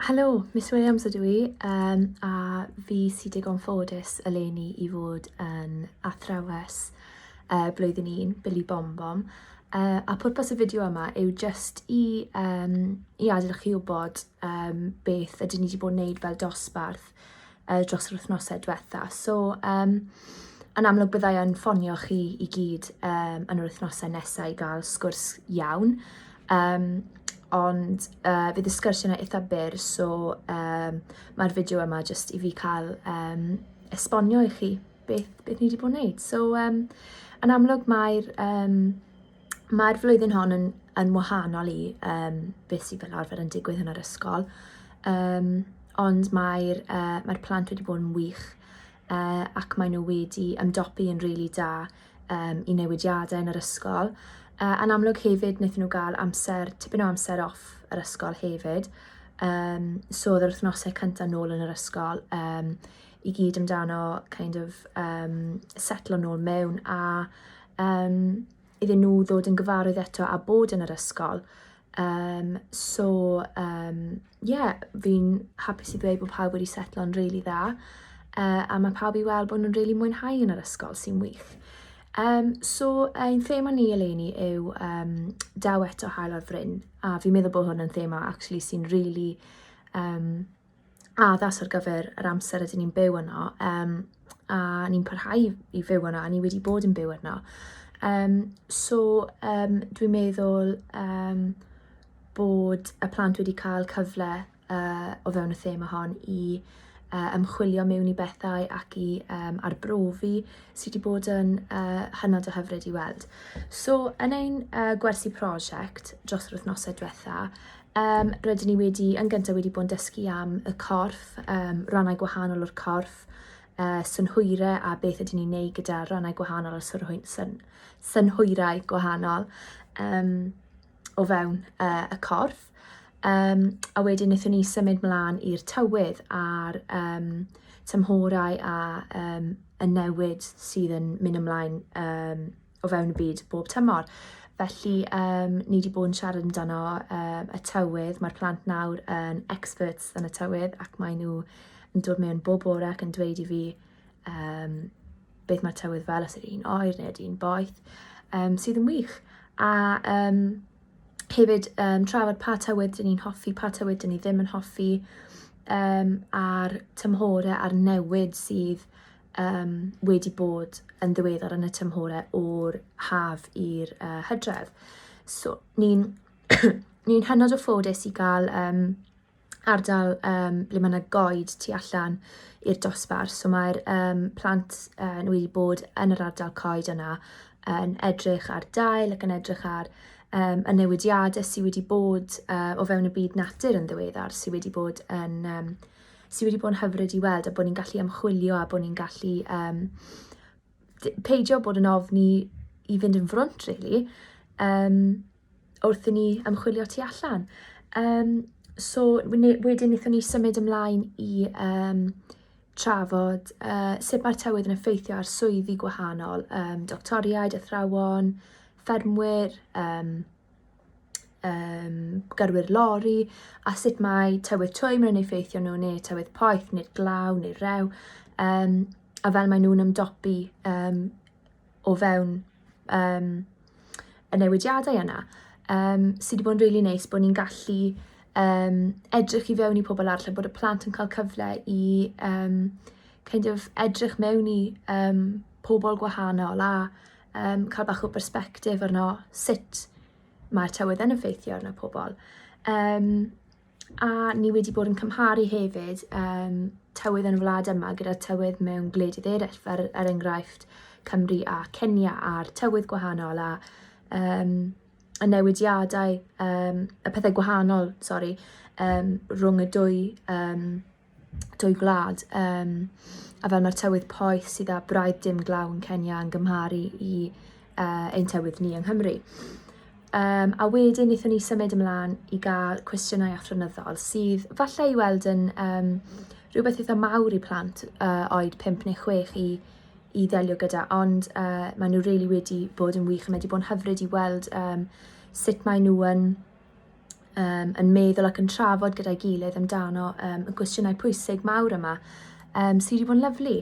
Helo, Miss Williams ydw i, um, a fi sy'n digon ffodus eleni i fod yn athrawes uh, blwyddyn 1, Billy Bom Bom. Uh, a pwrpas y fideo yma yw just i, um, i adael chi wybod um, beth ydyn ni wedi bod yn wneud fel dosbarth uh, dros yr wythnosau diwetha. So, um, yn amlwg byddai yn ffonio chi i gyd um, yn yr wythnosau nesau i gael sgwrs iawn. Um, ond uh, fydd y sgwrs yna eitha byr, so um, mae'r fideo yma jyst i fi cael um, esbonio i chi beth, beth ni wedi bod yn gwneud. So, um, yn amlwg mae'r um, Mae'r flwyddyn hon yn, yn wahanol i um, beth sydd fel arfer yn digwydd yn yr ysgol, um, ond mae'r uh, mae plant wedi bod yn wych uh, ac maen nhw wedi ymdopi yn rili really da um, i newidiadau yn yr ysgol. Uh, yn amlwg hefyd, wnaethon nhw gael amser, tipyn o amser off yr ysgol hefyd, um, so oedd yr wythnosau cyntaf nôl yn yr ysgol um, i gyd amdano kind of um, setlo nôl mewn a Yym, iddyn nhw ddod yn gyfarwydd eto a bod yn yr ysgol. Um, so, um, yeah, fi'n hapus i ddweud bod pawb wedi setlo'n rili really dda, uh, a mae pawb i weld bod nhw'n rili really mwynhau yn yr ysgol sy'n wych. Um, so, ein thema ni eleni yw um, daw eto hael ar fryn, a fi'n meddwl bod hwn yn thema actually sy'n rili really, um, addas ar gyfer yr amser ydyn ni'n byw yno um, a ni'n parhau i fyw yno a ni wedi bod yn byw yno. Um, so um, dwi'n meddwl um, bod y plant wedi cael cyfle uh, o fewn y thema hon i uh, ymchwilio mewn i bethau ac i um, arbrofi sydd wedi bod yn uh, hynod o hyfryd i weld. So yn ein uh, gwersi prosiect dros yr wythnosau diwetha, Um, rydyn ni wedi, yn gyntaf wedi bod yn dysgu am y corff, um, rannau gwahanol o'r corff, uh, synhwyre a beth ydyn ni'n neud gyda rannau gwahanol o'r synhwy, syn, synhwyrau gwahanol um, o fewn uh, y corff. Um, a wedyn wnaethon ni symud mlaen i'r tywydd a'r um, tymhorau a um, y newid sydd yn mynd ymlaen um, o fewn y byd bob tymor. Felly um, ni wedi bod yn siarad amdano um, y tywydd, mae'r plant nawr yn experts yn y tywydd ac maen nhw yn dod mewn bob bore ac yn dweud i fi um, beth mae'r tywydd fel, os ydy'n oer neu ydy'n boeth, um, sydd yn wych. A um, hefyd um, trafod pa tywydd dyn ni'n hoffi, pa tywydd dyn ni ddim yn hoffi, um, a'r tymhorau a'r newid sydd um, wedi bod yn ddiweddar yn y tymhorau o'r haf i'r uh, hydref. So, ni'n ni hynod o ffodus i gael um, ardal um, ble mae yna goed tu allan i'r dosbarth. So mae'r um, plant uh, nhw wedi bod yn yr ardal coed yna yn edrych ar dail ac yn edrych ar um, y newidiadau sydd wedi bod uh, o fewn y byd natur yn ddiweddar, sydd wedi bod yn um, sy wedi bod yn hyfryd i weld a bod ni'n gallu ymchwilio a bod ni'n gallu um, peidio bod yn ofni i fynd yn frwnt, really, um, wrth i ni ymchwilio tu allan. Um, so, wedyn wnaethon ni symud ymlaen i um, trafod uh, sut mae'r tywydd yn effeithio ar swyddi gwahanol, um, doctoriaid, athrawon, ffermwyr, um, um, gyrwyr lori a sut mae tywydd twym yn effeithio nhw neu tywydd poeth neu'r glaw neu'r rew um, a fel maen nhw'n ymdopi um, o fewn um, y newidiadau yna um, sydd wedi bod yn rili really neis bod ni'n gallu um, edrych i fewn i pobl arall a bod y plant yn cael cyfle i um, kind of edrych mewn i um, pobl gwahanol a um, cael bach o berspectif arno sut mae'r tywydd yn effeithio arno pobl. Um, a ni wedi bod yn cymharu hefyd um, tywydd yn y wlad yma gyda tywydd mewn gwledydd eraill, fel er enghraifft Cymru a Kenya a'r tywydd gwahanol a um, y newidiadau, um, y pethau gwahanol, sori, um, rhwng y dwy um, dwy gwlad um, a fel mae'r tywydd poeth sydd â braidd dim glaw yn Kenya yn gymharu i uh, ein tywydd ni yng Nghymru. Um, a wedyn wnaethon ni symud ymlaen i gael cwestiynau athronyddol sydd falle i weld yn um, rhywbeth eitha mawr i plant uh, oed 5 neu 6 i, i ddelio gyda, ond uh, maen nhw really wedi bod yn wych a mae wedi bod yn hyfryd i weld um, sut maen nhw yn um, yn meddwl ac yn trafod gyda'i gilydd amdano um, y gwestiynau pwysig mawr yma um, sydd wedi bod yn lyflu.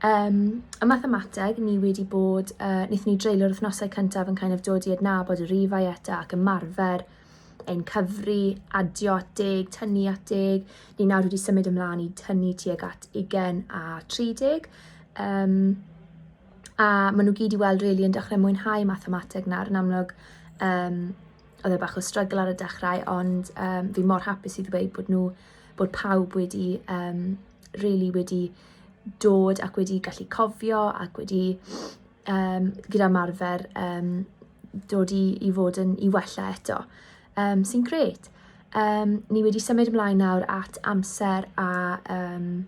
Um, y mathemateg, ni wedi bod, uh, wnaethon ni dreulio'r wythnosau cyntaf yn kind of dod i adnabod y rifau eto ac ymarfer ein cyfri, adio at deg, tynnu at deg. Ni nawr wedi symud ymlaen i tynnu tuag at 20 a 30. Um, a maen nhw gyd i weld rili really, yn dechrau mwynhau mathemateg nawr yn amlwg. Um, oedd e bach o struggle ar y dechrau ond um, fi mor hapus i ddweud bod nhw, bod pawb wedi um, really wedi dod ac wedi gallu cofio ac wedi um, gyda marfer um, dod i, i fod yn i wella eto, um, sy'n gret. Um, ni wedi symud ymlaen nawr at amser a um,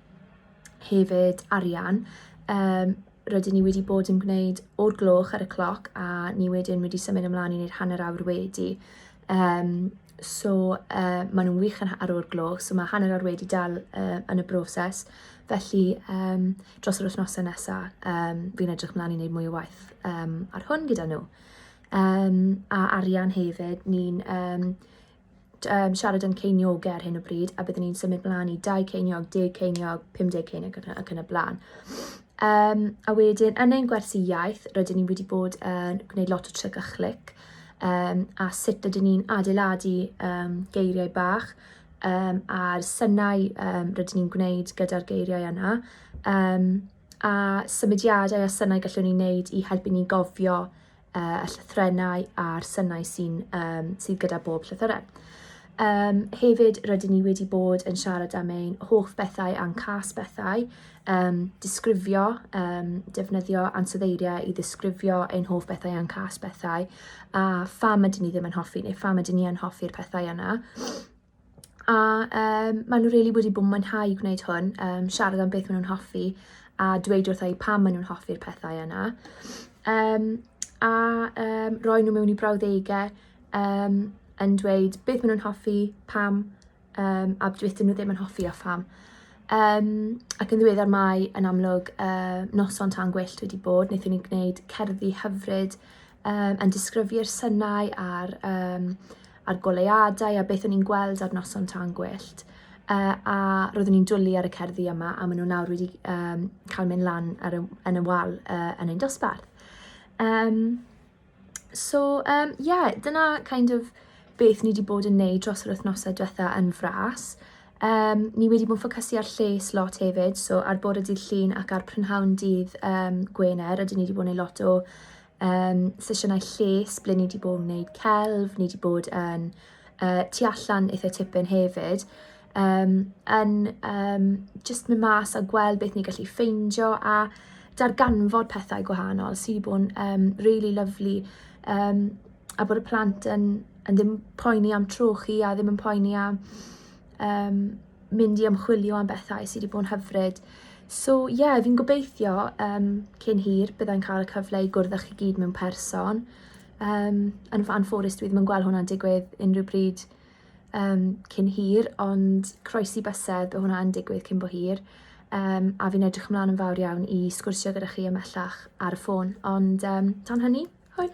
hefyd arian. Um, rydyn ni wedi bod yn gwneud o'r gloch ar y cloc a ni wedyn wedi symud ymlaen i wneud hanner awr wedi. Um, so uh, maen nhw'n wych yn ar o'r gloch, so mae hanner awr wedi dal uh, yn y broses. Felly um, dros yr wythnosau nesaf, um, fi'n edrych ymlaen i wneud mwy o waith um, ar hwn gyda nhw. Um, a arian hefyd, ni'n um, um, siarad yn ceiniogau ar hyn o bryd, a byddwn ni'n symud mlaen i 20 ceiniog, 10 ceiniog, 50 ceiniog ac yn y blaen. Um, a wedyn, yn ein gwersi iaith, rydyn ni wedi bod yn uh, gwneud lot o tryc a chlic, um, a sut ydyn ni'n adeiladu um, geiriau bach, um, a'r synau um, rydyn ni'n gwneud gyda'r geiriau yna, um, a symudiadau a synau gallwn ni wneud i helpu ni gofio uh, y llythrennau a'r synau sy'n um, sydd gyda bob llythyren. Um, hefyd, rydyn ni wedi bod yn siarad am ein hoff bethau a'n cas bethau, um, disgrifio, um, defnyddio ansoddeiriau i ddisgrifio ein hoff bethau a'n cas bethau, a pham ydyn ni ddim yn hoffi neu pham ydyn ni yn hoffi'r pethau yna. A yym maen nhw rili wedi bod yn mwynhau gwneud hwn, yym siarad am beth maen nhw'n hoffi a dweud wrtha i pam maen nhw'n hoffi'r pethau yna. Um, a um, roi nhw mewn i brawddegau um, yn dweud beth maen nhw'n hoffi, pam um, a beth dyn nhw ddim yn hoffi a pham. Um, ac yn ddiweddar mae yn amlwg uh, noson tan gwyllt wedi bod, wnaethon ni gwneud cerddi hyfryd um, yn disgrifi'r synau a'r, um, a'r goleuadau a beth o'n i'n gweld ar noson tan gwyllt. Uh, a roeddwn i'n dwlu ar y cerddi yma a maen nhw nawr wedi um, cael mynd lan ar y, yn y wal uh, yn ein dosbarth. Um, so, um, yeah, dyna kind of beth ni wedi bod yn neud dros yr wythnosau diwetha yn fras. Um, ni wedi bod yn ffocysu ar lles lot hefyd, so ar bore dydd llun ac ar prynhawn dydd um, Gwener, rydyn ni wedi bod yn gwneud lot o um, sesiynau lles ble ni wedi bod yn gwneud celf, ni wedi bod yn uh, tu allan eitha tipyn hefyd, um, yn um, just mynd mas a gweld beth ni'n gallu ffeindio a darganfod pethau gwahanol sydd wedi bod yn um, really lovely. Um, a bod y plant yn yn ddim poeni am trochi a ddim yn poeni am um, mynd i ymchwilio am bethau sydd wedi bod yn hyfryd. So ie, yeah, fi'n gobeithio um, cyn hir byddai'n cael y cyfle i gwrdd â chi gyd mewn person. Um, yn fan fforest dwi ddim yn gweld hwnna'n digwydd unrhyw bryd um, cyn hir, ond croesi bysedd, bydd hwnna'n digwydd cyn bo hir. Um, a fi'n edrych ymlaen yn fawr iawn i sgwrsio gyda chi ymellach ar y ffôn. Ond um, tan hynny, hwyl!